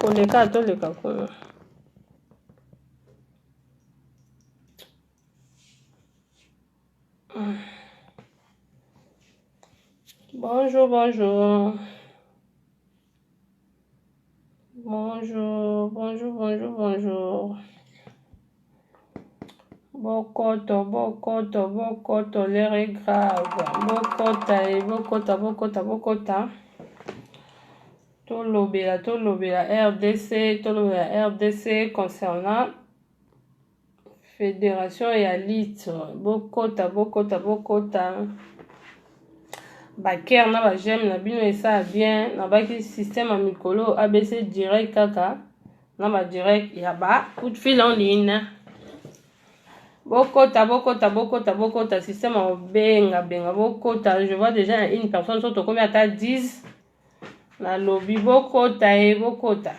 koleka toleka kuna bonjour bonjour Bonjour, bonjour, bonjour, bonjour. Bokoto, bokoto, bokoto, l'heure est grave. Bokota, et bokota, bokota, bokota. Tolobela, tolobela RDC, tolobela RDC concernant Federation ya lit bokota bokota bokota baker na bajeme na bino esala bien nabaki système ya mikolo abc direct kaka na badirect ya ba coup de fil en ligne bokota bokota bokota bokota système ya kobengabenga bokota je vois déjà une personne so tokomi ata 10 nalobi bokota ye bokota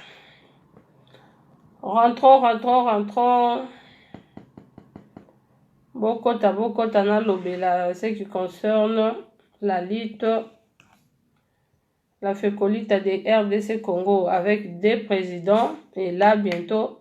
rentro rentro rentro bokota bokota nalobela ce qui concerne la lutte la fecolita de rdc congo avec deux présidents et là bientôt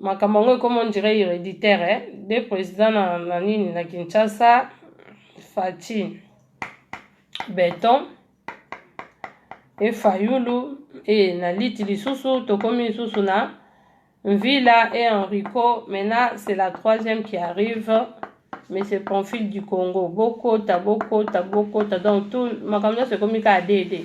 makambo yango ekoma ondire hereditaire eh? de président na, na nini na kinshasa faci beton e fayulu e na liti lisusu tokomi lisusu na villa e enrico maintenant c'est la troisième qui arrive mais c'est profil du congo bokota bokota bokota donc tout makambo nyonso ekomi kaka dede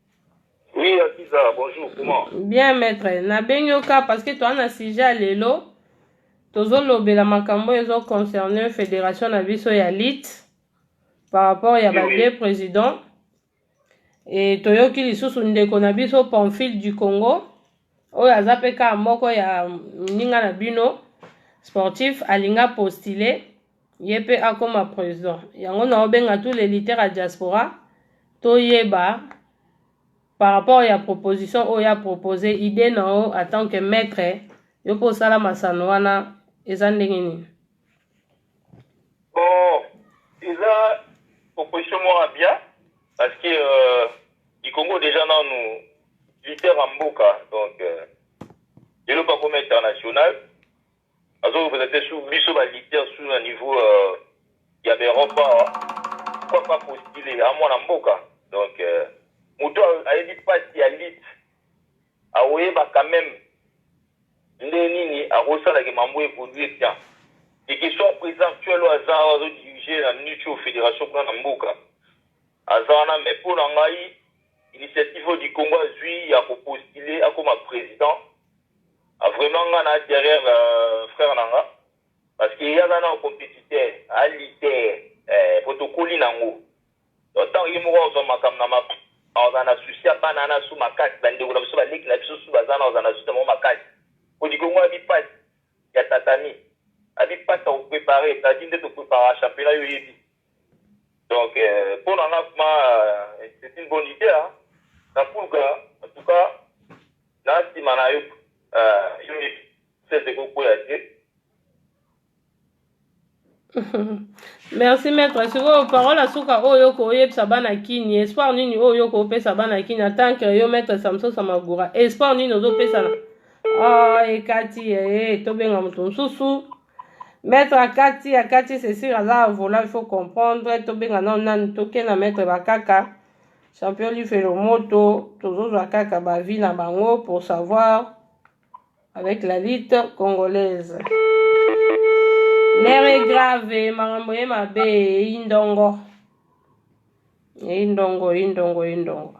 Oui, Aziza, bonjour, comment Bien, maître. Nabengi yo ka parce que toa na sujet ya lelo. Tozolobela makambo oyo ezo concerne fédération na biso ya lutte par rapport ya ba Oui, oui. deux présidents. Et toyoki lisusu ndeko na biso Pamphile du Congo oyo aza pe ka moko ya ninga na bino sportif alinga postuler ye pe akoma president yango na obenga tout les lutteurs ya diaspora toyeba par rapport ya proposition oyo ya propose idee na yo en tant que maître yo pe osala masano wana eza ndenge nini bon eza proposition moko bien parce que euh, likongo deja nanu leader ya mboka donc euh, eloko akoma international Azo representer sous biso ba lutteurs sous na niveau ya ba Europe awa. Pourquoi pas postuler? Aza mwana mboka. Donc mutu ayebi pasi ya lutte akoyeba quand meme ndenge nini akosala que mambo e evoluer bien. Et que soit president actuel oyo aza awa azo diriger na minute oyo federation kuna na mboka aza wana mais mpo na ngai initiative oyo Dikongo azui ya ko postuler akoma president Vraiment nga na derrière frère na nga parce que ye aza nanu competiteur a lutter eh po tokoli na yango donc tango ye moko azwa makambo na maboko akozala na souci ya bana wana su makasi ba ndeko na biso ba leki na biso su baza na kozala na souci na bango makasi kodi kongo abi pasi ya tatami abi pasi ya ko preparer tadi nde to preparaka championnat yo oyebi Donc euh, mpo na nga kuma euh, c'est une bonne idée hein. na pulga en tout cas na nsima na yo euh, yo yebi sese kokwea te merci maître sikoyo parole asuka oyo oko oyebisa bana kini espoir nini oyo oko opesa bana kini en tant que yo maître samson samagura espoir nini ozopesa na ah, ekati ee eh, tobenga moto mosusu maître akati akati c'est sûr aza vola il faut comprendre tobenga nao nani toke na maître bakaka champion lifelo moto tozozwa kaka bavi na bango pour savoir avec la lutte congolaise lere grave makambo ye mabe eyi ndongo eyi ndongo eyi ndongo eyi ndongo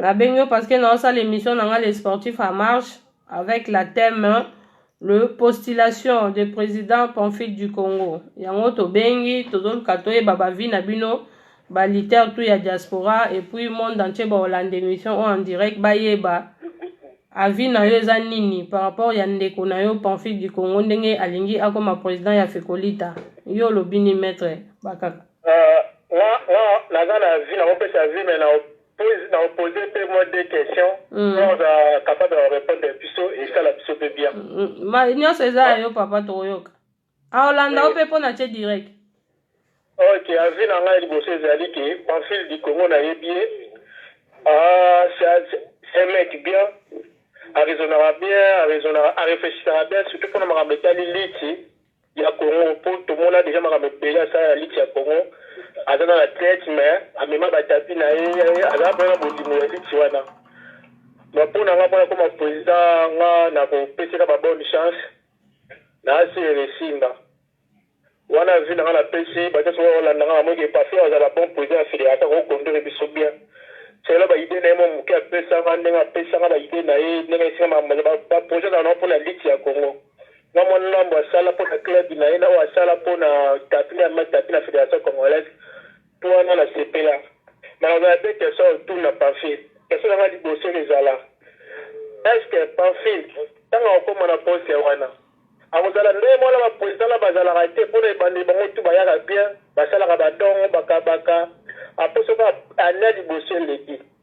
nabengi yo parce que naosala émission na ngai le sportif à marche avec la thème hein, le postulation de président Pamphile du Congo yango tobengi tozoluka toyeba bavi na bino baliter tout ya diaspora et puis monde entier baolanda émission oyo en direct bayeba avis na yo eza nini par rapport ya ndeko na yo Pamphile du Congo ndenge alingi akoma président ya Fekolita yo olobi ni maître bakaka naza na avis na kopesa avis mais na opose mpe mwa de question mm. oza capable ya repondre biso esala biso mpe bien mm, mm. nyonso eza ya yo papa tokoyoka aolanda ah, o mpe mpo na tie direct ok avis na ngai liboso ezali ke pamphile du congo nayebi ye ah, c'est mec bien arezonaka bien arezonaka areflechisaka bien surtout mpona makambo etali liti ya Congo po tomona dejà makambo ebele asala na lutte ya Congo aza na na tete mais amema ba tapis na ye azalaka penza na bolingo ya lutte wana donc po na nga po nakoma president nga na kopeseka ba bonne chance na asi eresinga wana avis na nga na pesi bato soki olanda nga na moki epafi azala bon president ya federation ko conduire biso bien selo ba idee na ye mo moke apesa nga ndenge apesa nga ba idee na ye ndenge esinga ba projet na na po na lutte ya Congo Mwa mwa ndambo asala mpo na club na ye na oyo asala mpo na tapi na mai tapi na Federation Congolaise mpo wana na sepela. Maloba ya Bekerson autour na Pamphile. Question na nga liboso eko zala est ce que Pamphile tango ako koma na poste wana ako zala ndenge moko na ba presidents na bazalaka te mpo na ebandeli bango tout bayaka bien, basalaka ba dongo, bakabaka, après soki annee ya liboso eleki.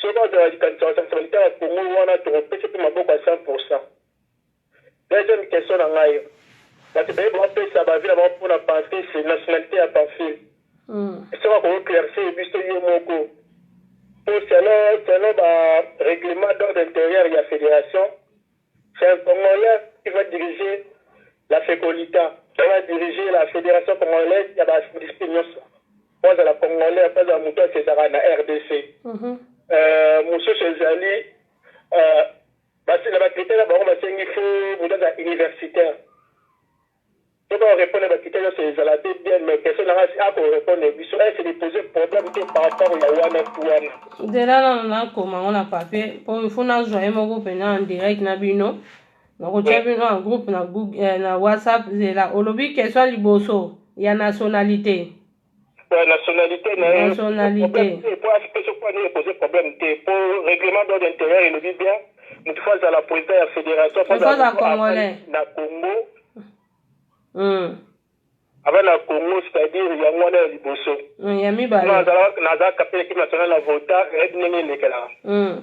Soki aza na likanisi ya kosangisa ba guitare ya Congo wana toko pesa pe maboko ya 100 pour 100. Deuxième question na ngai, batu baye ba pesa ba avis na bango pona Pamphis, nationalite ya Pamphile soki ako eclaircir biso ye moko po selon selon ba reglement d'ordre interieur ya federation C'est un congolais qui va diriger la fecolita, il va diriger la federation congolaise ya ba discipline nionso, po azala congolais, po azala mutu akendaka na rdc, mosusu ezali na ba critère na bango basengi faut mutu azala universitaire. Soki o repondre ba critère nionso ezala pe bien mais question na nga si a ko repondre biso est ce de poser problème te par rapport ya wana tout wana. Zela nanu nakoma yango na papier po il faut nazwa ye moko pena en direct na bino nakotia bino en groupe na, Google, eh, na whatsapp zela olobi question liboso ya nationalité Euh, nationalité na ye problème te mpo aspesi mpo ani epose problème te mpo règlement d'ordre intérieur elobi bien moto fo azala président ya fédération na congo hmm. ava na congo c'est-à-dire yango wana ya liboso hmm, nazalaka mpe ekipe national na vota eyebi ndenge elekelaka hmm.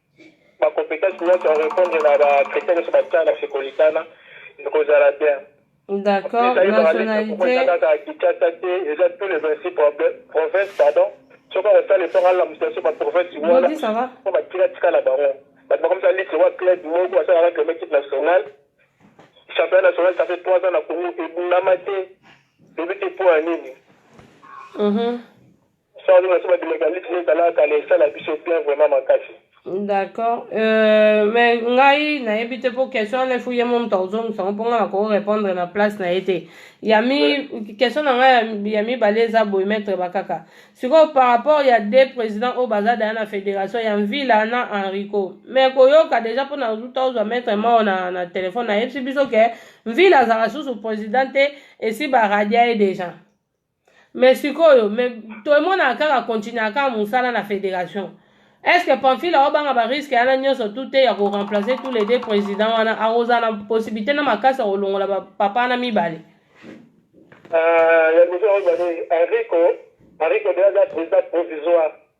ba competences nionso ya repondre na ba critères nionso batia na Sekolikana ekozala bien. D'accord, nationalité. Kaka Kinshasa te, eza tous les 26 provinces, pardon. Soki akosala effort alamusa biso ba provinces wana mpo batika tika na bango. Bato bakomisa liste wa club moko basalaka club équipe nationale. Championnat national ça fait 3 ans na Congo ebundama te. Toyebi te mpo ya nini. Mhm. Sawa nini naso babima ka liste neta la kala esala biso bien vraiment makasi. D'accord. Euh, mais ngai nayebi te po question wana efu ye mo moto akozongisa ngo mpo ngai nakoki répondre na place na ye te ya mi question na ngai ya- ya mibale eza boye maître bakaka sikoyo par rapport ya deux président oyo baza daya na fédération ya mvila na henrico mais koyoka déjà mpo na uta ozwa maître mao na, na telefone nayebisi biso ke mvila azalaka susu président te esi baradia ye déjà mais sikoyo mais toemonaka kaka continuaka kaka mosala na federation est ce que pamphile aobanga bariske yana nyonso tu te ya koremplace tous les deux président wana akozala na possibilité na makasi ya kolongola papa wana mibale euh, ya biso oyo bani enrico enrico de aza président provisoire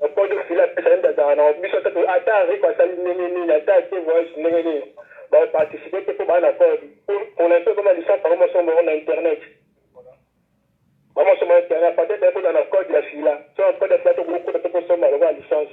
Mpondo Sila apesa yembe azalaka na biso ata to ata Rico asali ndenge nini ata ake voyage ndenge nini ba participer te mpo baa na code pour l'instant ekoma licence yango moso moko na internet ba moso moko internet peut-être ekozala na code ya Sila so na code ya Sila tokoki kokota te tosomba lokola licence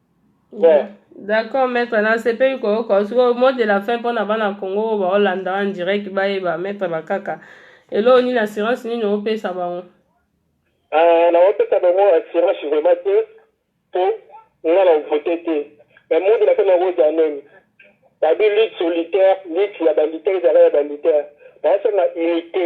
Bon. D'accord maître nasepeli koyoka sikoyo mot de la fin mpo na bana Congo oyo baolanda en direct bayeba maître bakaka eloko nini assurance nini opesa bango ah, naopesa bango assurance vraiment te mpo nga na ovote te mais mot de la fin nakozala nini babi lutte solitaire lutte ya banditaire ezalaka ya banditaire baosenga unité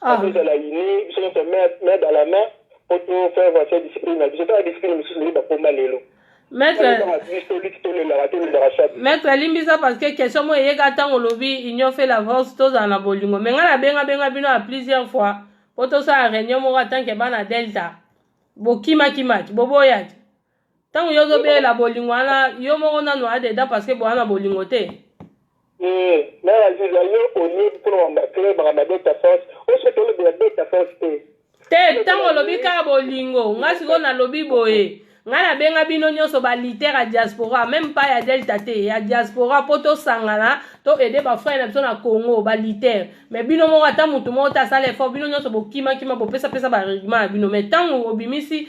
Ah. tozala unis biso nyonso main main dans la main mpo to faire avancer discipline na biso tala discipline mosusu ndenge bakoma lelo Maître, Tala biso liki tolelaka tolelaka chaque maître alimbisa parce que question moko eyeka ntango olobi union fait la force tozala na bolingo me ngai nabenga benga bino ya plusieurs fois mpo tosala réunion moko atanke bana delta bokimakimaki boboyaki ntango yo ozobelela bolingo wana yo moko nanu oya dedan parce que boya na bolingo te eh, na aziza yo olie mpona mamba club mamba beta force oso tolobela beta force te te ntango olobi kaka bolingo ngai sikoyo nalobi boye ngai nabenga bino nyonso baliter ya diaspora meme pa ya delta te ya diaspora mpo tosangana to aide bafrere na biso na congo baliter mai bino moko ata motu moko te asala effort bino nyonso bokimakima bopesapesa barigema ya bino mai ntango obimisi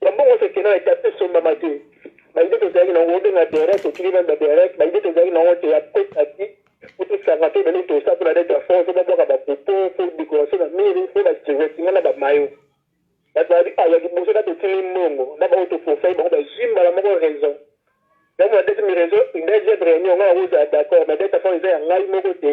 Ya bongo se kena etape esombama te. Ba idee tozalaki na yango obenga Derek otiki na ba Derek ba idee tozalaki na yango te ya petaki po tosanga to ebele tosa po na leta fort po babwaka ba popo po decoration na mire po ba singa na ba mayo bato babi a ya liboso na totili mbongo na baoyo tokosai bango bazwi mbala moko raison yango na deuxième raison deuxième réunion ngai nakozala d'accord mais leta fort eza ya ngai moko te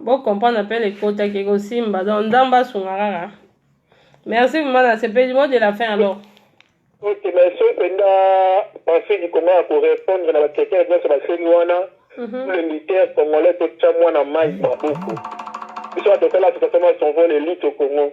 bocomprendre appel ekotaki ekosimba donc nzambe asunga kaka merci vraiment nasepeli mo de la fin alors ok mais soki mpenza pensé likongo ya korépondre na bakritere nyonso baseli wana mhm. le militaire congolais totya mwana mai maboko biso batotala totatoma son vol elite au congo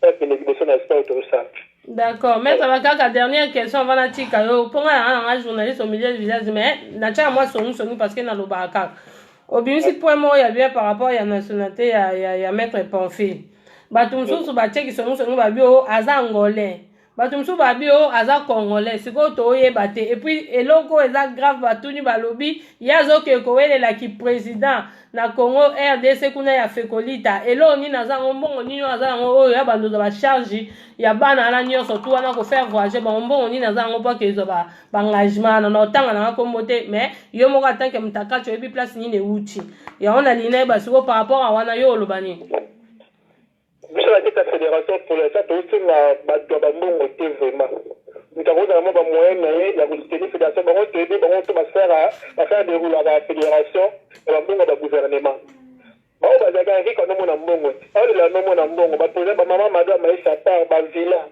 Père kende liboso na espoir toro simple. D'accord, maître ba kaka dernière question avant na tika yo. Mpo nga na nga journaliste au milieu du village mais na tia moi songi songi parce que na lobaka kaka. Obimisi point moko ya bien par rapport ya nationalité ya ya, ya maître Pamphile. Bato mosusu batieki songi songi babi o aza angolais. bato mosusu babi o oh, aza congolais sikoyo toyeba te epuis eloko oyo eza grave batuni balobi ye azokee kowelela kiprésident na congo rdc kuna ya fekolita eloko nini aza yango mbongo nini oyo aza yango oyo ya bandoza bacharge ya bana wana nyonso tu wana kofaire voyage bango mbongo nini aza yango mpo akezwa baengagement wana na otanga nanga nkombo te mais yo moko atanke mutakaci oyebi place nini ewuti yango na lina yeba sikoyo par rapport a wana yo oloba nini Biso na kati ya federation pour l'instant tozo senga batu ya ba mbongo te vraiment. Mutu ako zala mwa ba moyen na ye ya ko soutenir federation bango toyebi bango to ba faire ba faire deroulaka federation na ba mbongo ya ba gouvernement. Ba oyo bazalaka ya ric bano mona mbongo te. Azo lela no mona mbongo ba president ba mama mado ya maisha a part ba villa.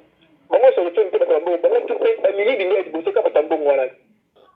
Bango solution te batu ya mbongo bango tout pe ba miyibi nde ya liboso ka batu ya mbongo wana te.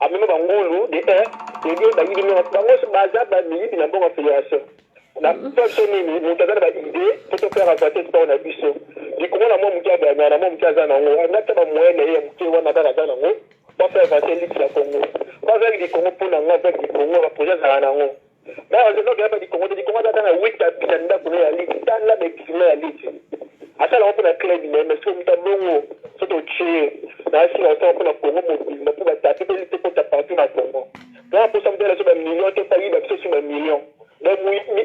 Amema ba ngulu de un de deux ba yibi niongo bango so baza ba miyibi na mbongo ya federation na poso nini moto aza na ba idee po to faire avancer sport na biso likolo na mwa moke abana na mwa moke aza na yango wana ta ba moyen na ye ya moke wana kaka aza na yango ba faire avancer ligue ya Congo ba zali di Congo po na nga zali di Congo ba projet azala na yango Bon je nobi hapa likongo te likongo azaka na wit abisa ndako ne ya liti tala bexima ya liti asala yango mpona club na ye mais soki moto abongo soki totie na asila osala mpona kongo mobimba mpo batapi mpe lite kota partout na kongo donc aposa moto alaso bamillion te bayiba biso si bamillion donc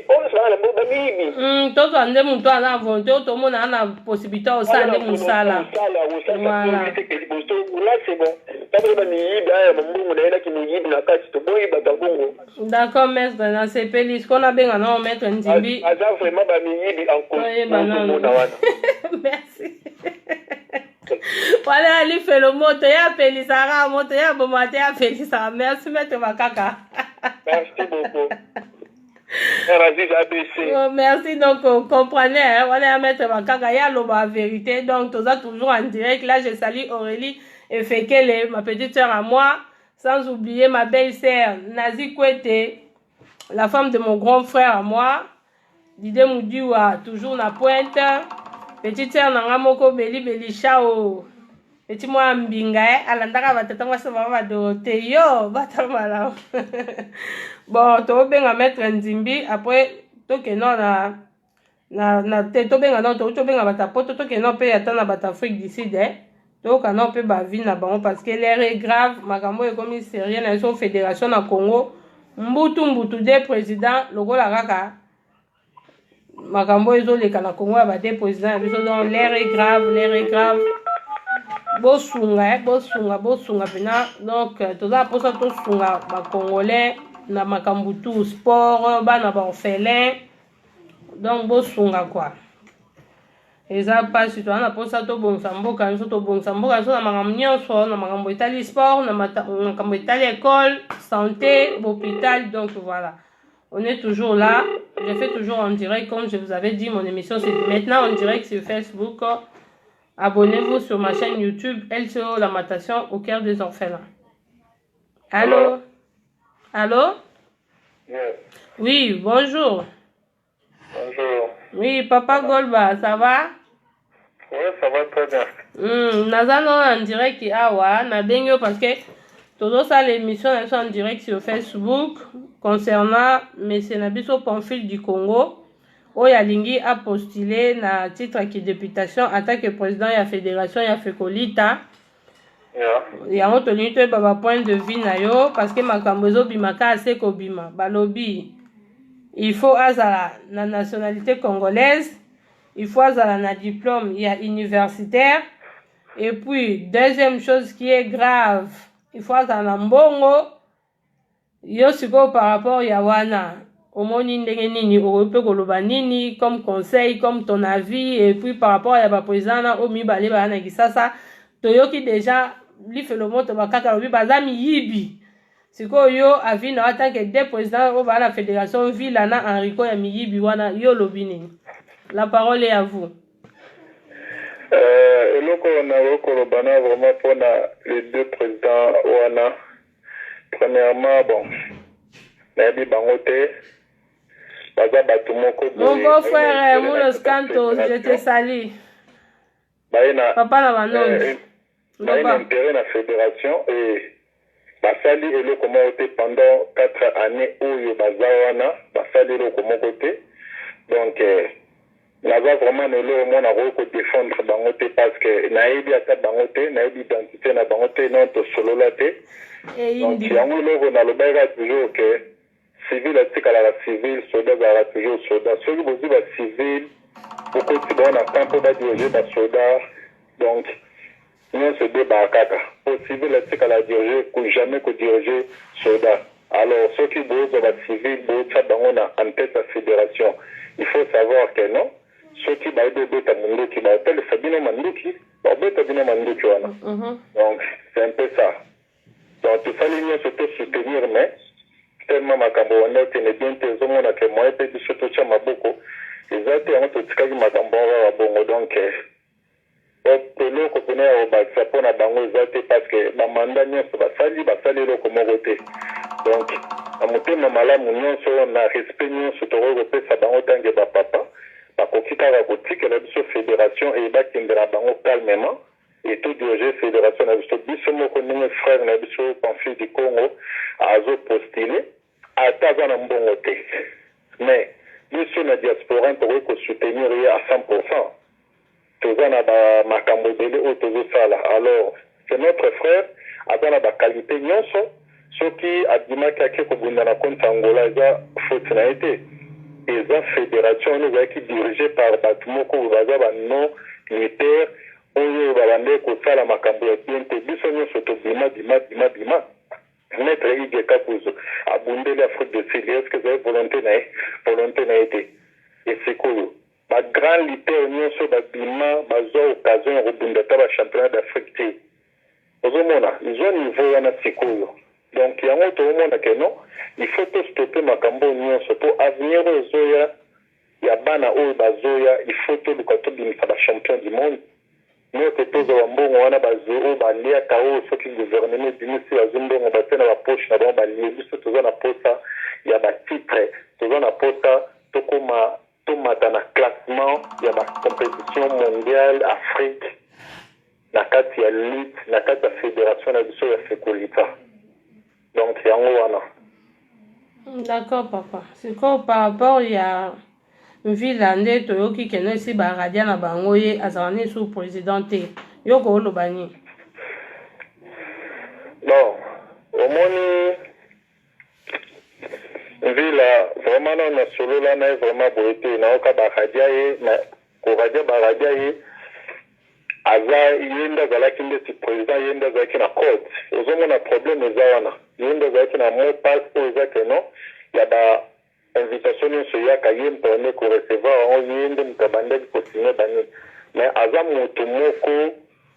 oyo sibaka na mbo bamiyibi hmm, tozwa nde moto aza na volonté oyo tomona na possibilité osala nde mosala liboso là c'est bon ntango bamiyibi aya mambongo na ye na kimiyibi na kati toboyi bato ya bongo D'accord maître na sepeli siko na benga na maître Nzimbi. Aza vraiment ba miyibi en cause. Oyeba na mona wana. Merci. Wale ali felo moto ya pelisaka moto ya bomate ya pelisaka merci maître makaka. Merci beaucoup. Oh, merci donc euh, comprenez hein, wana ya maître makaka ye aloba vérité donc toza toujours en direct là je salue aurélie efekele ma petite sœur à moi Sans oublier ma belle sœur Nazi Kwete, la femme de mon grand frère à moi, Dide Mudiwa, toujours na pointe, petite sœur nanga moko Beli Beli Chao, petit mwa mbinga eh, alandaka batata mwasi na mama Dorothée, yo bata malamu bon tokobenga maître Nzimbi après tokenda na na, na te tobenga nao tokuti tobenga bato ya poto tokende nao mpe ata na bato ya afrique du sud eh? toyoka nao mpe bavi na bango parce que l'air est grave makambo oyo ekomi serie na biso fédération na congo mbutu mbutu de président lokola kaka makambo oyo ezoleka na congo ya bade président ya biso donc l'air est grave l'air est grave bosunga eh? bosunga bosunga mpena donc euh, toza mposa tosunga bacongolais na makambo tout sport bana baorphelin donc bosunga kwa eza mpasi toza na mposa tobongisa mboka nyonso tobongisa mboka nyonso na makambo nyonso na makambo etali sport na makambo etali école santé hôpital donc voilà on est toujours là je fais toujours en direct comme je vous avais dit mon émission c'est maintenant en direct sur facebook abonnez-vous sur ma chaîne youtube lco lamatation au cœur des orphelins Allô Allô Yes. Oui, bonjour. Bonjour. Oui, Papa Golba, ça va Oui, ça va très bien. Hmm, naza no en direct awa nabengi yo parce que tozosala émission na biso en direct sur facebook concernant monsieur na biso pamphile du congo oyo alingi apostule na titre ya kideputation attaque président ya fédération ya fekolita yango tolingi toyeba ba point de vue na yo parce que makambo ezobima kaka se kobima balobi il faut azala na nationalité congolaise il faut azala na diplôme ya universitaire et puis deuxième chose qui est grave il faut azala na mbongo Yo sikoyo par rapport ya wana omoni ndenge nini okoki mpe koloba nini comme conseil comme ton avis et puis par rapport ya ba president na oyo mibale baya na Kisasa toyoki deja lifelo moto bakata lobi baza miyibi sikoyo yo avis na tant que deux president oyo baya na federation Villa na Henrico ya miyibi wana yo olobi nini la parole est à vous Euh, eloko nakoki koloba na vraiment mpona les deux présidents wana Premièrement bon nayebi bango te baza bato moko mon beau frère Mulos Cantos je te salue baye na papa na banonde eh, baye na intérêt na fédération et basali eloko moko te pendant 4 années oyo baza wana basali eloko moko te donc eh, Naza vraiment na eloko moko nakoki ko defendre bango te parceque nayebi ata bango te nayebi identite na bango te non tosolola te donc yango eloko nalobaki kaka toujours que civil atikalaka civil soda azalaka toujours soda soki bozwi ba civil bokotisi bango na camp po ba diriger ba soda donc Nionso ebebaka kaka po civil atikala a diriger ku jamais ko diriger soda alors soki bozwa ba civil botia bango na en tete ya federation il faut savoir que non soki bayebi obeta munduki bako talisa bino manduki bako beta bino manduki wana donc c'est un peu ça donc tosali nionso to soutenir mais tellement makambo ebanda kokende bien te ezo mona que moyen pe biso totia maboko eza te yango totikaki makambo wana kaka bongo donc Bob, eloko pena ya kobakisa po na bango eza te parceque ba mandat nionso basali, basali eloko moko te. Donc, na motema malamu nionso, na respect nionso tokoki kopesa bango tant que ba papa, bakoki kaka kotikela biso federation et bakende na bango calmement et to diriger federation na biso biso moko ndenge frère na biso Pamphile Dikongo azo postuler. Ata aza na mbongo te mais biso na diasporan tokoki ko soutenir ye à 100 pourcent toza na ba makambo ebele oyo tozo sala alors c'est notre frère aza na ba qualite nionso soki abimaki ake kobunda na contre Angola eza faute na ye te eza federation wana ezalaki dirige par batu moko oyo baza ba non lutteurs oyo babandaki kosala makambo ya bien te biso nionso tobima bima bima bima Maitre Hugues Kakuzu abundeli Afrique du Sud est ce que ezali volonte na ye? Volonte na ye te et sikoyo ba grands lutteurs nionso oyo ba bima bazua occasion ya kobunda ata ba championnat d'Afrique te ozo mona zua niveau wana sikoyo donc yango tozo mona que non il faut to stopper makambo oyo nionso po avenir oyo ezoya ya bana oyo bazoya il faut toluka tobimisa ba champions du monde Yo pe tozwa ba mbongo wana ba zero ba liaka oyo soki gouvernement ebimisi bazwi mbongo batie na ba poche na bango balie biso toza na posa ya ba titre toza na posa tokoma tomata na classement ya ba competition mondial afrique na kati ya lutte na kati ya federation na biso ya fekolita. donc yango wana D'accord papa. Sikoyo par rapport ya Mvila nde toyoki keno esi ba radia na bango ye azala ne sous président te. Yo ko oloba nini? bon omoni mvila vraiment nano nasolola na ye vraiment boye te nayoka baradia ye mais Koradia baradia ye aza ye nde azalaki ndeti president ye nde azalaki na code ozo mona probleme eza wana ye nde azalaki na mot passe oyo eza que non ya ba invitation nionso eyaka ye mpremier ko recevoir yango ye nde moto abandaki ko signe ba nini mais aza mutu moko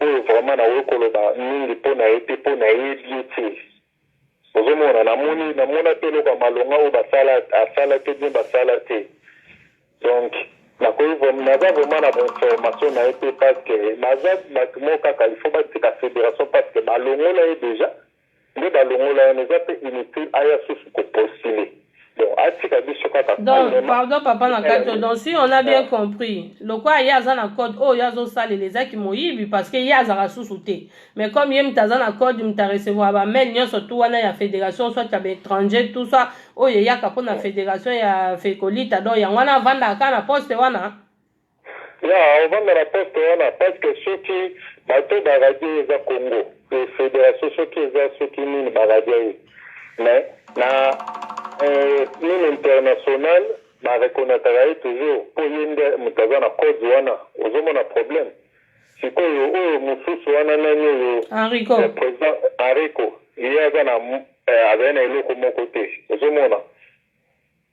oyo vraiment nakoki koloba mingi pona ye te po nayebi ye te Ozo mona na moni na mona pe eloko ya malonga oyo ba sala asala te bien ba sala te donc na koki vrem na za vrema na ba information na ye te parce que na za batu moko kaka il faut ba tika federation parce que ba longola ye deja nde ba longola ye na eza pe inutile aya susu ko postule donc atika biso kaka donc pardon papa na kati to donc si on a bien compris lokola ye aza na code oyo azosalela eza kimoyibi parce que ye azaka susu te mais comme ye moto aza na code moto arecevoir bamail nyonso tu wana ya fédération soit ya baétranger tout ça oyo eyaka mpo na fédération ya fekolita donc yango wana avandaka kaka na poste wana Ya ovanda na poste wana pasque soki bato ba radio eza congo et federation soki eza soki nini ba radio ye mais na nini international ba reconnatraka ye toujours po ye nde moto aza na code wana ozo mona problème sikoyo oyo mosusu wana nani oyo enrico president enrico ye aza na azali na eloko moko te ozo mona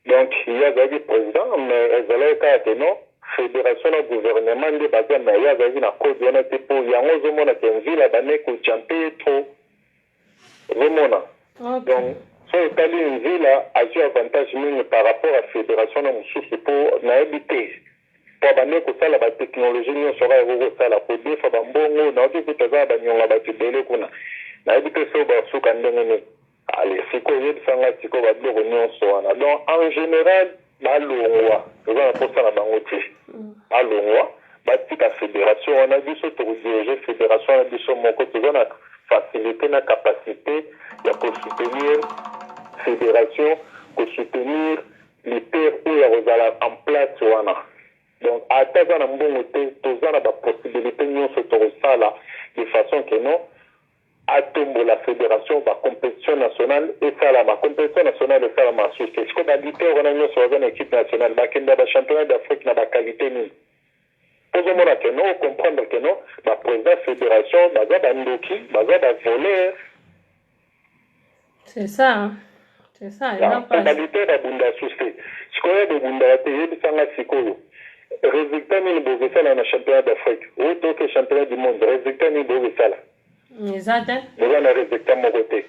Donc ye azalaki president mais ezalaki kaka que non federation na gouvernement nde baza mais ye azalaki na code wana te po yango ozomona que Nzila abandaki ko jumper ye trop ozomona donc Okay. soki otali Nzila azui avantage mingi par rapport ya federation na mosusu po nayebi te po abandaki kosala ba technologie nionso kaka ekoki kosala kodefa ba mbongo nayoki kutu aza na ba nionga batu ebele kuna nayebi te soki bakosuka ndenge nini. Allez sikoyo yebisa nga sikoyo ba biloko nionso wana donc en general ba longwa toza na posa na bango te ba longwa ba tika federation wana biso toko diriger federation wana biso moko toza na facilite na capacite ya ko soutenir federation ko soutenir leader oyo ako zala en place wana donc ata aza na mbongo te toza na ba possibilite nionso toko sala de façon que non Atombola federation ba competition national esalama competition national esalama susu te sikoyo ba luteur wana nionso baza na equipe national bakende ya ba championnat d'afrique na ba qualite nini ozo mona ke no comprendre ke no ba president federation baza ba ndoki baza ba voleur C'est ça. C'est ça. Totalitaire babunda susi. Sikoyo bobundaka te yebisa nga sikoyo. Resultat nini bokosala na championnat d'Afrique? Ou toke championnat du monde, resultat nini bokosala? Eza te. Boza na resultat moko te.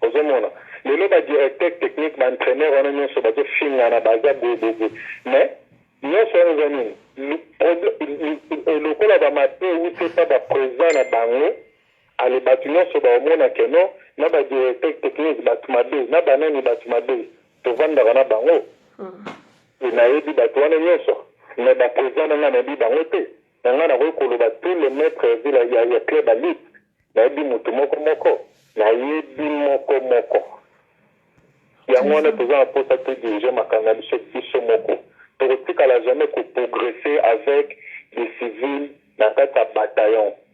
ozomona lelo badirecteur technique baentraîneur wana nyonso bazofingana baza boyeboye mais nyonso wana eza nini lokola bamate utepa baprésent na bango Allez batu nionso ba omona que non na ba directeur technique batu mabe na ba nani batu mabe tovandaka na bango et nayebi batu wana nionso mais ba president na nga nayebi bango te mais nga nakoki koloba tout les maitres ya ville ya ya club ya lutte nayebi mutu moko moko nayebi moko moko yango wana toza na posa to dirige makambo na biso biso moko tokotikala jamais ko progresser avec des civils na kati ya bataillon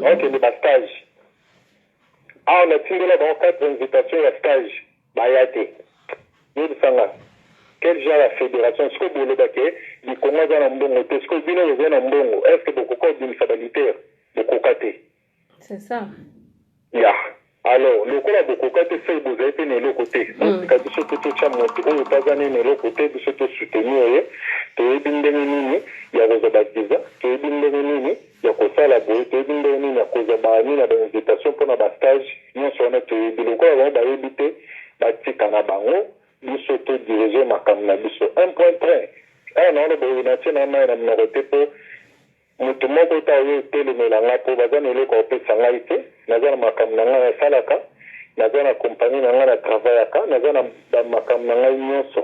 bakende ba stage awa natindela bango quatre invitation ya stage baya te yebisa nga quel genre ya fédération sikoyo boloba ke likongo aza na mbongo te sikoyo bino boza na mbongo est ce que bokoka kobimisa balitere bokoka te c'est ça ya alors lokola bokoka te fai bozali mpe na eloko te botika mm. biso mpe totya moto oyo mpe aza nini eloko te biso tosoutenir ye toyebi ndenge nini ya kozwa baviza toyebi ndenge nini ya kosala boye toyebi ndenge nini ya kozwa baami na bainvitation mpo na bastage nyonso wana toyebi lokola bango bayebi te batika na bango biso todirige makambo na biso un point train awa naona boye natie na mai na minoko te mpo Moto moko te aye etelemela ngai, po baza na eloko ya kopesa ngai te. Naza na makambo na ngai nasalaka, naza na compagnie na ngai na travaillaka, naza na ba makambo na ngai nionso.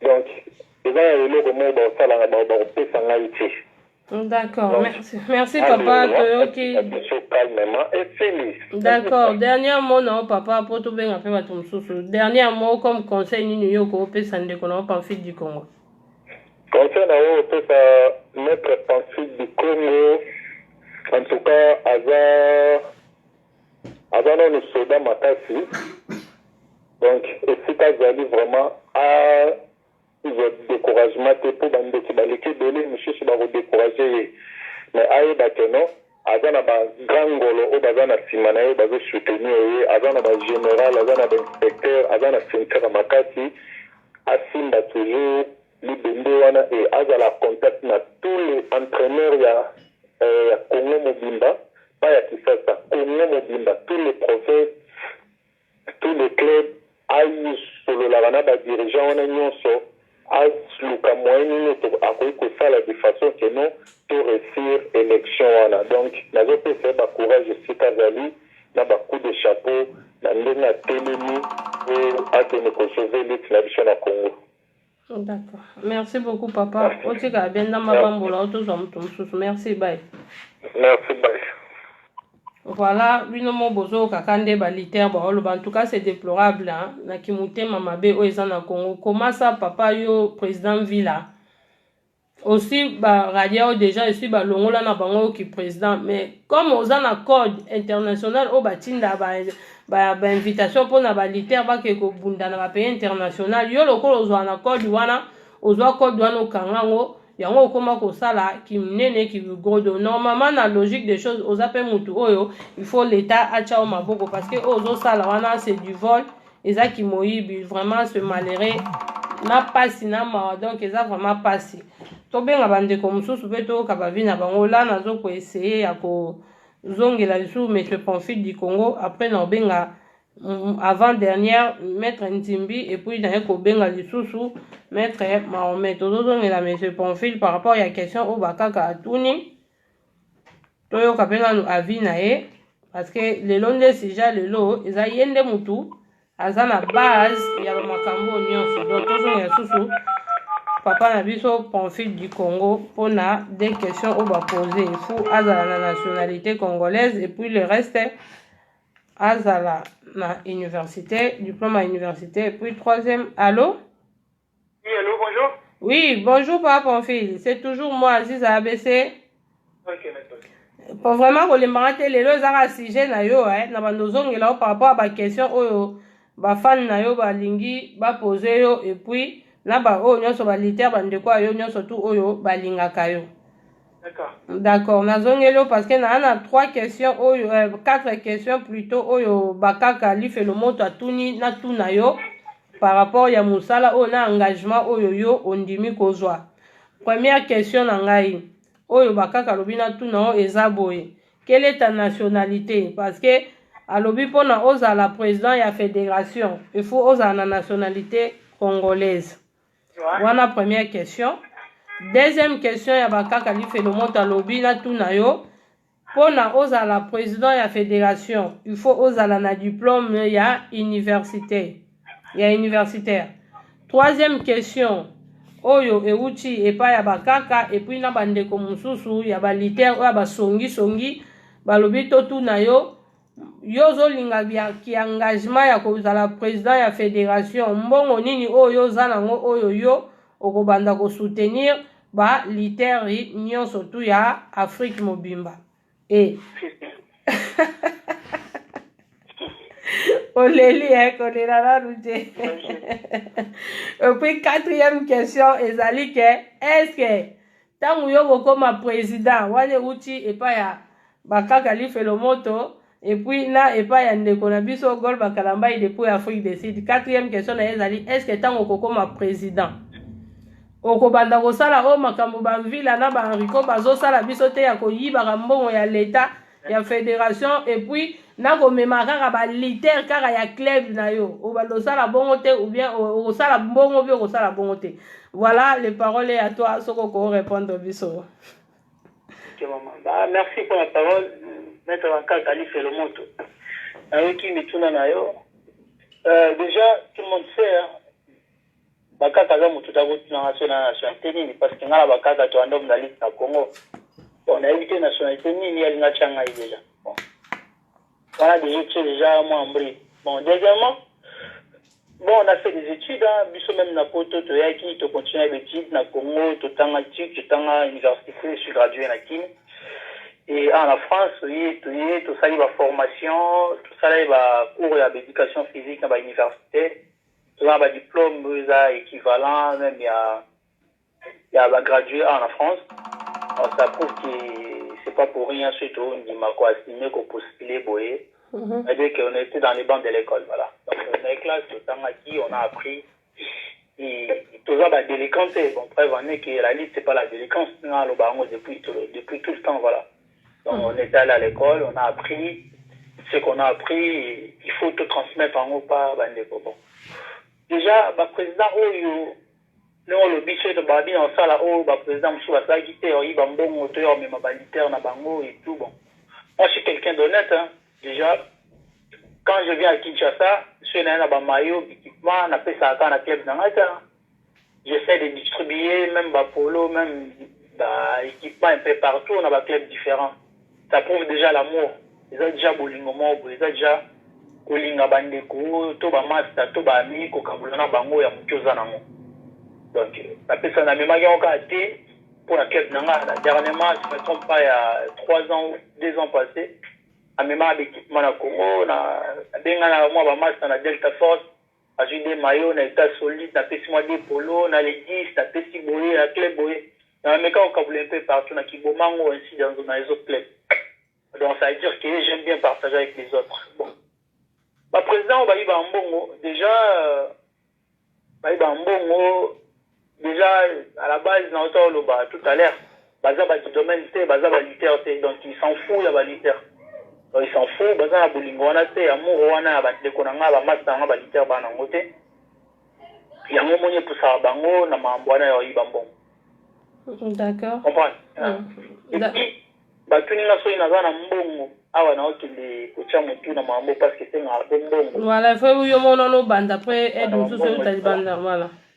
Donc, eza na eloko moko bakosalaka, ba, bakopesa ngai te. D'accord, Donc, merci, merci papa, Alléluia, toyoki. na biso calmement, esili. D'accord, dernier mot na yo papa, po tobenga pe bato mosusu. Dernier mot comme conseil nini yo okopesa ndeko na yo Pamphile du Congo? Conseil na yo opesa maitre Pancit du Congo en tout cas aza aza nanu soda makasi donc esika azali vraiment a zwa decouragement te mpo bandoki baleki ebele mosusu bakodecourage ye mais ayeba ke non aza na ba grand ngolo oyo baza na sima na ye bazo soutenir ye aza na ba general aza na ba inspecteur aza na ceinture ya makasi asimba toujours libende wana et azala en contact na tous les entraineurs ya euh, ya Congo mobimba pas ya Kisasa Congo mobimba tous les provinces tout le club aye sololaka na ba dirigeants wana nionso aluka moyen nini akoki kosala de façon que non to reussir election wana donc nazo pesa ye ba courage esika azali na ba coups de chapeau na ndenge atelemi po akende ko sauver lutte na biso na Congo. D'accord. Merci beaucoup papa. Merci. Otika bien na mabambola otozwa moto mosusu. Merci bye. Merci bye. Voilà, bino mo bozo kaka nde ba liter ba oloba. En tout cas, c'est déplorable hein. Na kimutema mabe oyo eza na Congo. Comment ça papa yo président Villa? osi ba radia oyo deja esi balongola na bango oyo kipresident mais comme oza na code international oyo batinda bainvitation ba, ba mpo na baliter bakee kobunda na bapays international yo lokola ozwa na code wana ozwa code wana okanga yango yango okoma kosala kiminene kigodo normalement na logique des choses oza mpe motu oyo il faut leta atya o maboko parce que oyo ozosala wana c'est du vol eza kimoyibi vraiment ce malheureux na pasi na mawa donc eza vraiment pasi tobenga bandeko mosusu mpe toyoka bavi na bango la nazo koeseye ya kozongela lisusu monsieur pamphile du congo après na obenga mm, avant dernière maître nzimbi epuis naye kobenga lisusu maître mahomet tozozongela monsieur pamphile par rapport ya question oyo bakaka atuni toyoka mpe nanu avis na ye parce que lelo nde sija lelo eza ye nde mutu aza na base ya bamakambo oyo nyonso donc tozonga lisusu papa na biso pamphile du congo mpona de question oyo bapose fo azala na nationalité congolaise epuis le reste azala na université diplôme ya université epuis troisième allo Oui, allô, bonjour. Oui, bonjour papa Pamphile. C'est toujours moi, Aziza ABC. Ok, d'accord. po vraiment kolembaka te lelo ezaka sujet na yo eh, na bando ozongela yo par rapport ya baquestion oyo bafani na yo balingi bapose yo epuis na baoyo nyonso baliter bandeko ya yo nyonso tu oyo balingaka yo d'accord nazongeli yo parce que naa na trois questions oyo euh, quatre questions plutôt oyo bakaka lifelo moto atuni natuna yo par rapport ya mosala oyo na engagement oyo yo ondimi kozwa première question na ngai oyo bakaka alobi natuna oyo eza boye quelle est ta nationalité parce que alobi mpona ozala président ya fédération il faut ozala na nationalité congolaise wana première question deuxième question ya bakaka lifelo moto alobi natuna yo Pona ozala president ya federation il faut ozala na diplome ya universite ya universitaire troisième question oyo ewuti epai ya bakaka epuis na bandeko mosusu ya baliter oyo ya basongisongi balobi totuna yo yo ozolinga ki engagement ya kozala président ya fédération mbongo nini oyo yo oza nango oyo yo okobanda kosoutenir ba literi nyonso tu ya afrique mobimba e oleli e kolela nanu te epuis quatrième question ezali ke est ce que Tango yo bokoma president wana euti epa ya bakaka lifelo moto epuis na epa ya ndeko na biso gol bakalambai depuis afrique de sud quatrième question na ye ezali est ce que tango okokoma president okobanda kosala oyo makambo bamvila na bahenrico bazosala biso te ya koyibaka mbongo ya leta ya federation epuis nakomema kaka balitere kaka ya club na yo obalosala bongo te ou bien okosala bongo mpe okosala bongo te voilà le parole ya toi soki okorepondre biso merci mpo na parole maître bankaka alifelo moto nayoki mituna na yo euh, déjà tout le monde sait hein, Bakaka aza mutu te ako tuna nga soki naza nationalite nini parce que nga na bakaka to yanda mozalisi na congo bon na yebi te nationalite nini ye alingi atia ngai dejà bon wana dejà otie dejà mwa mbri bon deuxièmement bon na fait des études hein, biso même na poto toyaki to continue b'études na congo totanga tic totanga université sur gradué na kin et awa na france toye toye tosali ba formation tosalaki ba cours ya ba éducation physique na ba université Tozana ba diplome oyo eza equivalent meme ya ya ba graduer awa na France. Alors ça prouve que c'est pas pour rien soki tondima ko assumer ko postuler boye. C'est-à-dire qu'on était dans les bancs de l'école voilà. Donc na ye classe totangaki on a appris toza ba delinquants te bon preuve en est que la lutte c'est pas la delinquance naloba yango depuis depuis tout le temps voilà. On est allé à l'ecole, on a appris ce qu'on a appris, il faut tout transmettre en haut pas bandeko. Bon. Déjà, ba président oyo, non le bicho de babi en sala oyo, ba président moussou la sagi te, oyi ba mbongo, to yor mema ba liter na bango et tout, bon. Moi, je suis quelqu'un d'honnête, hein. Déjà, quand je viens à Kinshasa, je suis là, na ba maillot, équipement, na pesa aka na club na ngata, J'essaie de distribuer meme ba polo, meme ba equipement un peu partout na ba clubs differents. Ça prouve dejà l'amour. Eza dejà bolingo moko boye, eza dejà kolinga ba ndeko to ba masta to ba amis kokabola na bango ya moke oza nango. Donc napesa na memaki yango kaka te mpo na club na nga na dernièrement si je me trompe pas il ya trois ans ou deux ans passe amemaka ba equipement na Congo na benga na mua ba masta na Delta Force Nazui deux maillots na etat solide, napesi mwa deux polos, na le 10 napesi boye, na club boye. Donc na meka ko kabola un peu partout, na ki bomango ainsi dans dans les autres clubs. Donc ça veut dire que j'aime bien partager avec les autres. Bon. Ba presidents oyo ba yibaka mbongo, dejà ba yibaka mbongo Dejà à la base na uta oloba tout à l'heure baza ba du domaine te baza ba lutteurs te donc il s'en fou ya ba lutteurs donc il s'en fou baza na bolingo wana te amour wana ya ba ndeko na nga ba masse na nga ba lutteurs ba na ngo te yango omoni epusaka bango na mambo wana ya oyiba mbongo d'accord comprendre mm. et puis batuni nga soki naza na mbongo awa naokende kotya motu na mambo parce que esengaka mpe mbongo voilà fe yo monano obanda mpe aide mosusu euta libanda voilà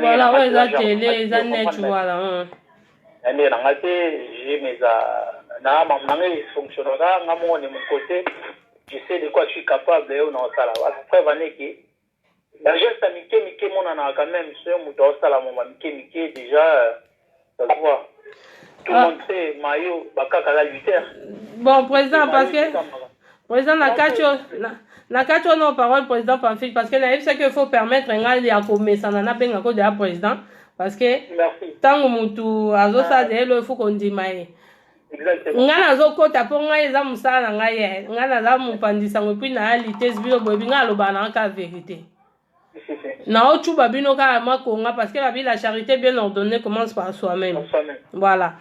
Voilà oyo eza tele eza net voilà. Hein. na ndenge na ngai te jm eza na mamu na ngai efonctionnaka nga moko ne mokote je sais de quoi je suis capable oyo naosala preuve aneke bageste ya mike mike emonanaka quand même soki moto aosala moma mike mike déjà bon président parce que président na kati na kati wana o parole président pamphile parce que nayebisaki il faut permettre ngai ya komesana nabenga ko deya président parce que ntango motu azosala deya elo efu kondima ye ngai nazokɔta mpo ngai eza mosala na ngai ye ngai naza mopanzi sango epui naya litese bino boyebi ngai alobaka na kaka verité nao cuba bino kaka mwa konga parce que babi la charité bien ordonnée commence par soi-même voilà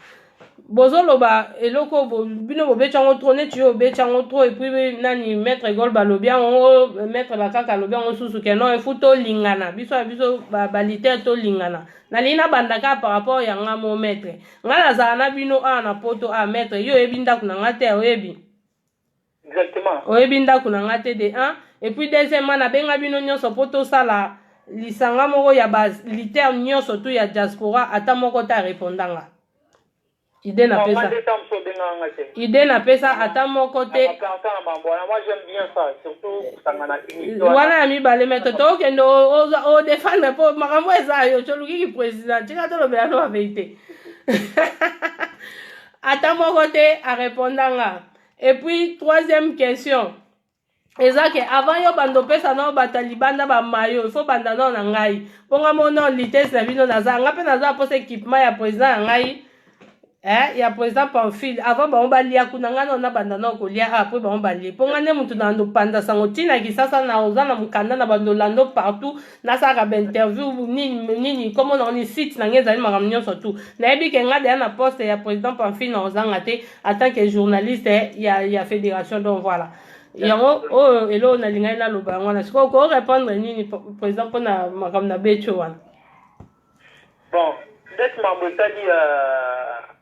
bozoloba eloko bo, bino bobeti yango trop neti yo obeti yango trop epuis nani maître egol balobi yango maître bakaka alobi yango susu ke non efu tolingana biso ya biso balitere ba tolingana nalingi nabanda kaka par rapport ya nga mo maître ngai nazala na bino awa na poto awa maître yo oyebi ndako na ngai te oyebi Exactement. Oyebi ndako na nga te de un et puis deuxièmement nabenga bino nyonso mpo tosala lisanga moko ya ba liter nyonso tu ya diaspora ata moko te areponda nga ide napesa ide napesa ata moko te wana ya mibale me toto okende odefendre mpo makambo eza yo toluki ki président tika tolobela no baverité ata moko te areponda nga Et puis, troisième question. eza ke avant yo bando opesa nao bata libanda bamayo ifo banda nao na ngai mpo nga moko nao litese na bino naza nga mpe naza mposa équipement ya président ya ngai eh, ya président pamphile avant bango balia kuna ngai nao nabanda nao kolia ah, apres bango balie mpo ngai nde motu na bando panda sango ntina kisasa na oza na mokanda na bando lando partout nasalaka bainterview nini nini komo na oni site na ngai ezali makambo nyonso tu nayebi ke ngai deya na poste ya président pamphile na kozanga te en tant que journaliste eh, ya, ya fédération donc voilà yango oyo eloo nalingaki naloba yango wana sikoyo ko répondre nini président mpo na makambo na betio wana bon ndeti mambo etali ya euh,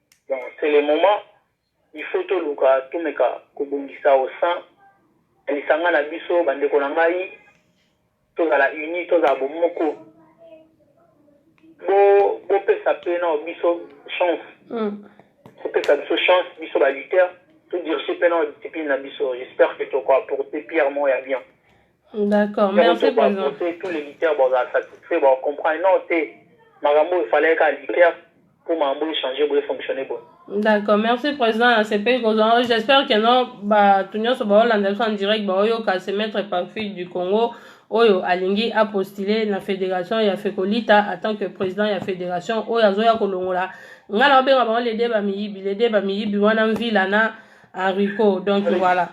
Donc c'est le moment il faut toluka tomeka kobongisa au sein ya lisanga na biso bandeko na ngai tozala uni tozala bomoko bopesa mpe na biso chance mm. bopesa biso chance biso baluteur todirige mpe na discipline na biso j'espère que tokoapporte pierre moko ya bien D'accord, merci président. Tous les lutteurs bon ça satisfait bon comprendre non te makambo il fallait qu'à lutter pour mambo changer pour fonctionner bon. D'accord, merci président à CP Kozan. J'espère que non bah tout nyonso ba Hollande en direct bah oyo ka se mettre par fil du Congo oyo alingi a postuler na fédération ya Fekolita en tant que président ya fédération oyo azoya kolongola nga na obenga bango les deux ba miyibi les deux ba miyibi wana mvila na Enrico donc voilà.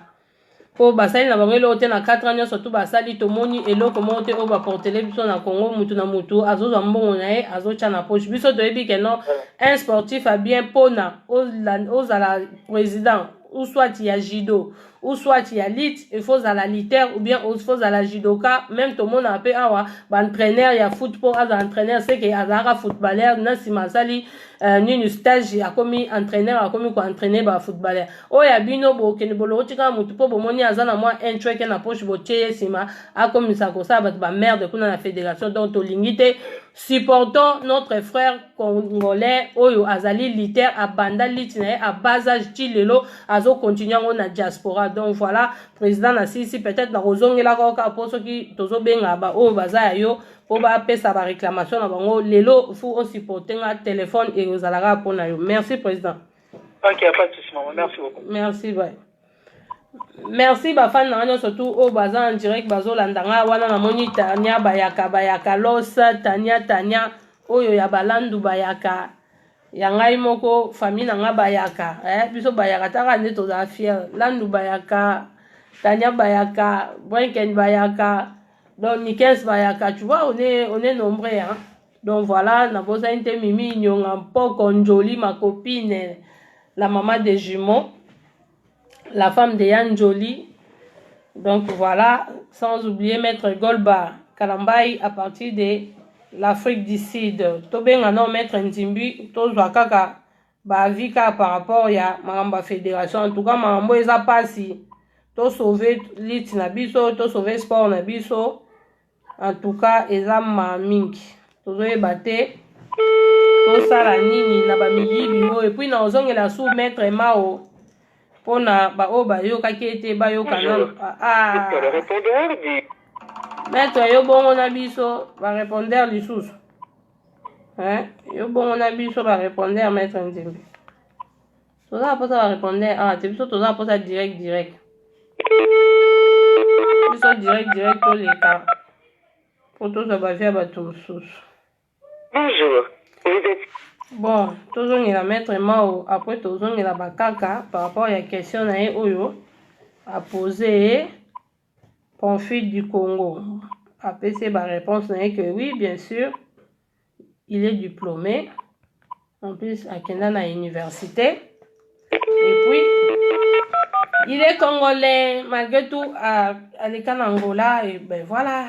po basali na bango eloko te na 4 ans nyonso tu basali tomoni eloko moko te oyo baportele biso na congo mutu na mutu azozwa mbongo na ye azotya na poche biso toyebi ke non un sportif a bien mpona ozala président ou soit ya judo ou soit ya lite il faut ozala liter ou bien il faut ozala judoka même tomonaka mpe awa baentraîneur ya foot mpo azala entraîneur seke azalaka footballeur na nsima asali Uh, nini stage akomi entraîneur akomi koentraîne ba footballeur oyo ya bino bokende bolokoti kaka motu mpo bomoni aza na mwa intreke na poche botie ye nsima akomisa kosala bato bamerde kuna na fédération donc tolingi te supportons notre frère congolais oyo azali liter abanda liti na ye abasage ti lelo azokontinue yango na diaspora donc voilà président na sisi peut-être nakozongelaka oka mpo soki tozobengaka baoyo baza ya yo mpo bapesa baréclamation na bango lelo fu osupporte nga telefone eye ozalaka mpo na yo merci président ok pas de souci maman merci beaucoup merci bye merci bafani na nga nyonso tu oyo baza en direct bazolanda nga wana namoni tania bayaka bayaka los tania tania oyo ya balandu bayaka ya ngai moko famille na nga bayaka eh, biso bayaka taka nde tozala fiere landu bayaka tania bayaka brinken bayaka donc nikes bayaka tu vois on est, on est nombreux hein? donc voilà nabosani te mimi inyonga mpoko njoli ma copine la maman des jumeaux la femme de ya njoli donc voilà sans oublier maître golba kalambai à partir de l'afrique du sud tobenga nao maître nzimbi tozwa kaka ba avis kaka par rapport ya makambo ya federation en tout cas makambo oyo eza mpasi to sauve lutte na biso to sauve sport na biso en tout cas eza ma mingi tozoyeba te tosala nini na bamiyibi oyo epuis na ozongela su maître mao mpo na baoyo bayokaki ete bayoka nano ah, ah. maître yo bongo na biso barepondeur lisusu Hein? Yo bongo na biso ba répondre maître Nzembe. Toza posa ba répondre ah te biso toza posa direct direct. Biso direct direct to leka. Po toza ba via bato mosusu. Bonjour. Vous êtes Bon, tozongela maître Mao après tozongela bakaka par rapport ya question na ye oyo a poser Conflit du Congo. Apesi ye ba reponse na ye que oui bien sur il est diplome en plus akenda na universite et puis il est congolais malgré tout aleka na Angola et ben voilà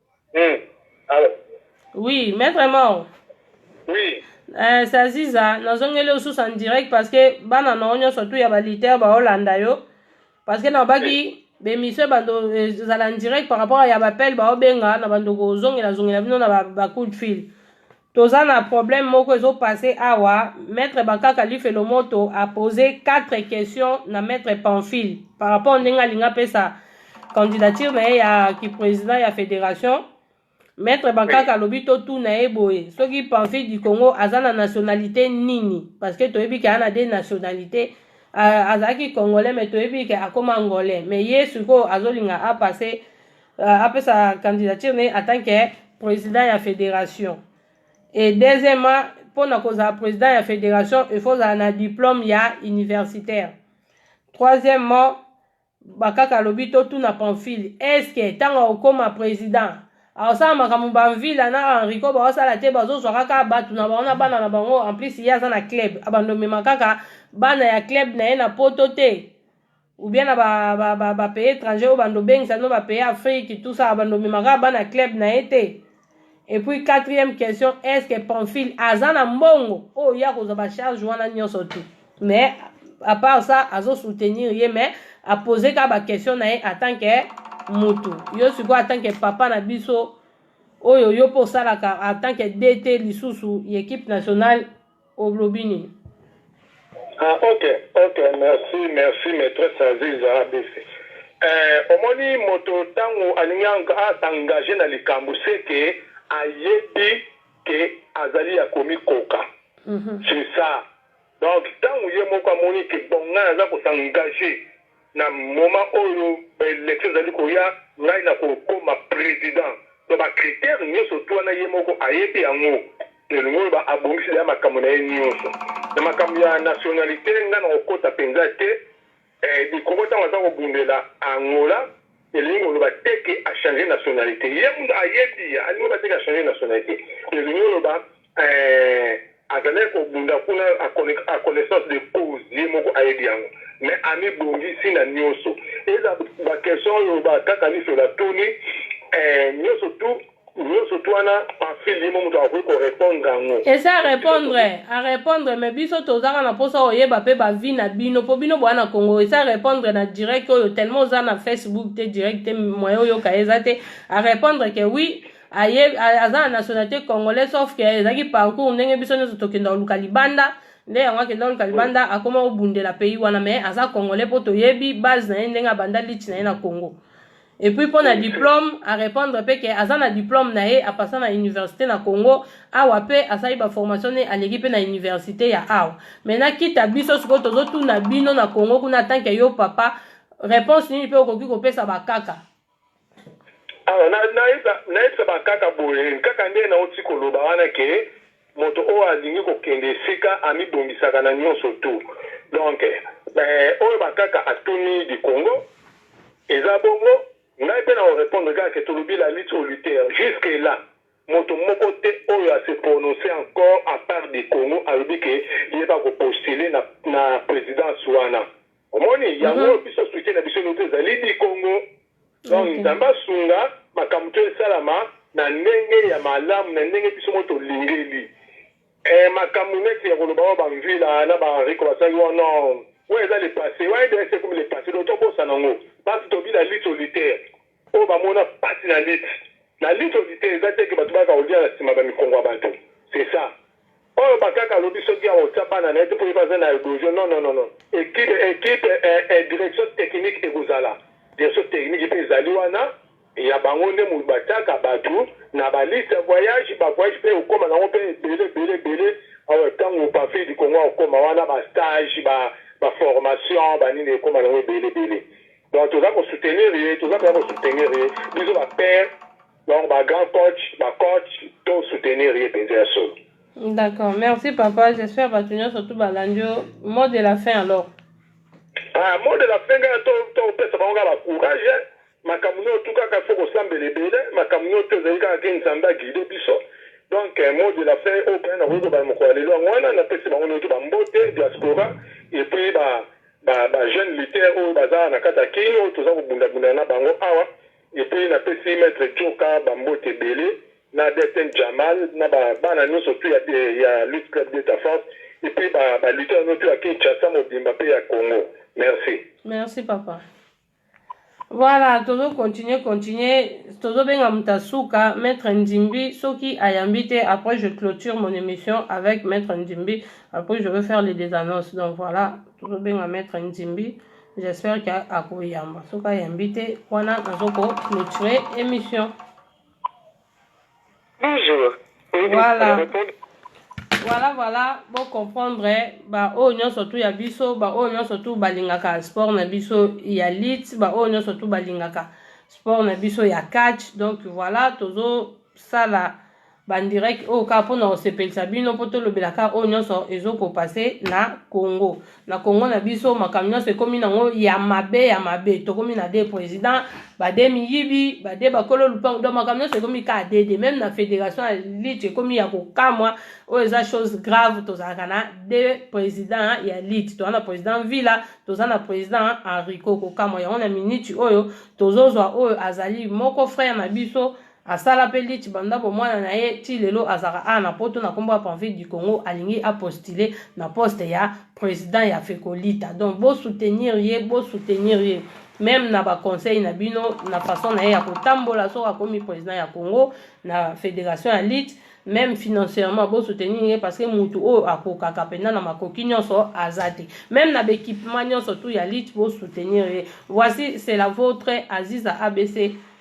Hmm. Alo. Oui, maître Mao. Oui. Eh, Saziza, nazongeli yo lisusu en direct parce que bana na yo nyonso tu ya baliter baolanda yo parce que nabaki bemission bando ezala en direct par rapport ya bapele baobenga na bandoko ozongela zongela bino na ba, ba coup de fil toza na problème moko ezo passe awa maître bakaka lifelo moto a pose quatre questions na maître pamphile par rapport ndenge alinga apesa candidature na ye ya kiprésident ya fédération maître bakaka alobi totuna ye boye soki pamphile du congo aza na nationalité nini parce que toyebi ke ana de nationalité azalaki congolais mais toyebi ke akoma angolais mais ye sikoyo azolinga apasse uh, apesa candidature na ye en tant que président ya fédération et deuxièmement mpo na kozala président ya fédération il faut ozala na diplôme ya universitaire troisièmement bakaka alobi totuna pamphile est ce que ntango akokoma président akosala makambo bamvila na henrico baosala te bazozwa kaka bato na bango na bana na bango en plus ye aza na club abanda omema kaka bana ya club na ye na poto te ou bien na ba ba ba, ba pays étrangers oyo bando bengisa no ba pays Afrique tout ça bando memaka bana club na ye te et puis quatrième question est-ce que Pamphile aza na mbongo oyo ya kozwa ba charge wana nyonso te mais à part ça azo soutenir ye mais a poser ka ba question na ye en tant que mutu yo sikoyo en tant que papa na biso oyo yo mpe osalaka en tant que dt lisusu ya équipe nationale Olobi nini? Ah ok ok merci merci maitresse aziza abc eh, omoni moto tangu alingi a s'engager na likambu ce que ayebi que azali ya komikoka c'est ça donc tangu ye moko amoni que bon ngai naza ko s'engager Na moment oyo ba elections ezali koya ngai na ko koma president donc ba critères nioso tout wana ye moko ayebi yango elingi oloba abongisi dejà makambo na ye nioso na makambo ya nationalite ngai na ko kota penza te eh likoko tango aza ko bundela Angola Elingi koloba te que a changer nationalite. Ye mutu ayebi, alingi koloba te que a changer nationalite. Elingi koloba eh, azalaki kobunda kuna a connaissance de cause, ye moko ayebi yango. Mais amibongisi na nioso. Ezala ba questions oyo ba kaka liso batuni eh, nioso tout. Nioso tu wana Pamphile ye mo moto akoki ko repondre yango. Ese a repondre, a repondre mais biso toza kaka na posa oyeba pe ba vie na bino po bino boa na Congo. Ese a repondre na direct oyo tellement oza na Facebook te direct te moyen oyoka ye eza te. A repondre que oui aye aza na nationalite congolais sauf que ezalaki parcours ndenge biso nioso tokenda koluka libanda. nde yango akenda koluka libanda akoma kobundela pays wana mais aza congolais mpo toyebi base na ye ndenge abanda lite na ye na congo Et puis pour la diplôme, à répondre pe que aza na diplôme na ye, à passer na université na Congo, awa pe asali ba formation ne aleki pe na université ya awa. Maintenant kita biso siko tozo tuna bino na Congo kuna tant que yo papa, réponse nini pe okoki kopesa ba kaka? awa nayebisa bakaka boye kaka nde nauti koloba wana ke Moto oyo alingi ko kende esika amibongisaka na nionso tout donc oyo ba kaka atuni du Congo eza bongo ngai pe nako repondre kaka que tolobi la lutte au lutteur jusque là moto moko te oyo a se prononcer encore a part du Congo alobi que ye ba ko postuler na na presidence wana omoni yango oyo biso soutien na biso ezali du Congo. Donc okay. Nzambe asunga makambo to esalama na ndenge ya malamu na ndenge biso mo tolingeli eh, makambo neti ya koloba oyo bamvila na bariko basali wa non oyo eza le passé wa edese ekomi le passé donc tobosana yango basi tobila lit solitaire oyo bamona pasi na lit na lit solitaire eza te ke bato baka kolia na nsima bamikongo ya bato c'est ça Oyo ba kaka alobi soki ako tia bana naye te po ye pe aza na edojo non non non equipe equipe eh direction technique ekozala direction technique pe ezali wana ya bango nde mutu ba tiaka batu na ba liste ya voyage ba voyage pe okoma nango pe ebele ebele ebele oyo tangu pa fidi kongo akoma wana ba stage ba ba formation ba nini ekoma nango ebele ebele donc toza ko soutenir ye toza penza ko soutenir ye biso ba pere Donc ba grand coach, ba coach to soutenir ye penza ya solo. D'accord, merci papa. J'espère batu nyoso tu balandi yo. Mot de la fin alors. Ah, mot de la fin nga to to pesa bango ba courage. Makambo nyo tu kaka faut kosambela ebele, makambo nyo to ezali kaka ke Nzambe guide biso. Donc eh, mot de la fin au point na ko ba mokolo lelo yango wana na pesi bango nyoso ba mbote diaspora et puis ba ba, ba jeunes lutteurs oyo baza na kata kino toza kobunda bunda na bango awa Epuis na pesi maitre Djoka ba mbote ebele na DSN Djamal na ba bana nionso tout ya ya lutte club de ta force epuis ba ba lutteurs no tout ya Kinshasa mobimba pe ya Congo merci. Merci papa. Voilà, tozo continuer continuer, tozo benga muta suka maître Ndimbi soki ayambi te après je clôture mon émission avec maître Ndimbi après je vais faire les des annonces. Donc voilà, tozo benga maître Ndimbi. J'espère que akoyamba. Soki ayambi te, wana nazo ko clôturer émission. Bonjour. Voilà. Voilà, voilà, bo comprendre ba oyo nyonso tu ya biso, ba oyo nyonso tu balingaka sport na biso ya lit, ba oyo nyonso tu balingaka sport na biso ya catch. Donc voilà, tozo sala ba direct oyo kaka mpona kosepelisa bino mpo tolobela kaka oyo nyonso ezokopase na congo na congo na biso makambo nyonso ekomi nango ya mabe ya mabe tokomi na de président bade miyibi bade bakolo lupango donc makambo nyonso ekomi kaka dede meme na fédération ya lit ekomi ya kokamwa oyo eza chose grave tozalaka na de président ya lit toza na président villa toza na président henrico kokamwa yango na miniti oyo tozozwa oyo azali moko frère na biso Asala pe lich banda bomwana na ye ti lelo azalaka awa na poto na kombo ya Panville du Congo alingi a postuler na poste ya president ya Fecolita donc bo soutenir ye bo soutenir ye meme na ba conseil na bino na façon na ye ya kotambola soki akomi president ya Congo na federation ya lich meme financièrement bo soutenir ye parce que mutu oyo akokaka penda na makoki nyonso aza te meme na b'equipement nyonso tout ya lich bo soutenir ye voici c'est la vôtre Aziza ABC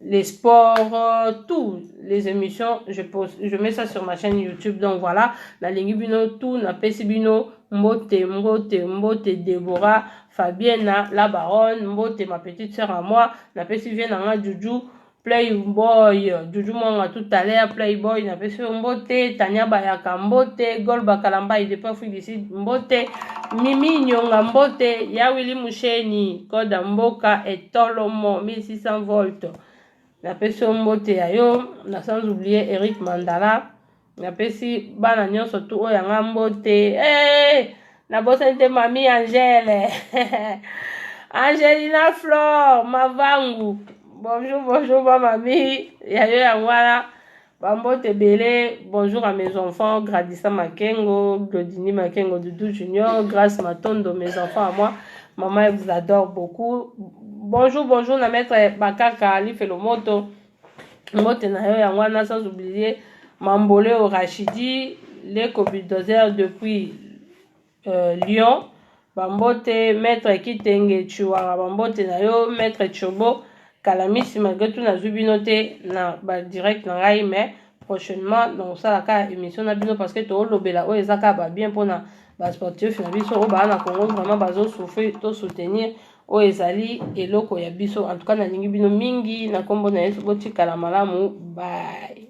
les sports, euh, tout les émissions, je, pose, je mets ça sur ma chaîne YouTube. Donc voilà, na lingi bino tout, na pesi bino mbote, mbote, mbote, Deborah, Fabienne, la baronne, mbote, ma petite sœur à moi, na pesi vienne en Juju, Playboy, Juju Mwanga tout à l'heure, Playboy, na pesi mbote, Tania Bayaka mbote, Golba Kalamba, il dépend fou d'ici mbote, Mimi Nyonga mbote, Yawili Moucheni, Koda Mboka, et Tolomo 1600 volt napesi yo mbote ya yo na sans oublier Eric Mandala napesi bana nyonso tu oyo yanga mbote hey! nabosani te mami Angèle Angelina Flore Mavangu bonjour bonjour ba mami ya yo yango wana Ba mbote ebele, bonjour à mes enfants, Gradissa Makengo, Glodini Makengo, Doudou Junior, Grace Matondo, mes enfants à moi, maman elle vous adore beaucoup. Bonjour, bonjour na maître Bakaka Lifelo Moto, mbote na yo yango wana sans oublier Mamboleo Rachidi, Leko Bulldozer depuis Euh, Lyon, bambote maître Kitenge Chiwanga, bambote na yo maître Chobo Kalamisi, malgré tout nazwi bino te na ba direct na ngai mais prochainement nakosala kaka émission na bino parce que toolobela oyo eza kaka babien mpona basportif na biso oyo baa na congo vraiment bazosouffrir tosoutenir oyo ezali eloko ya biso en tout cas nalingi bino mingi na nkombo na yesu botikala malamu baye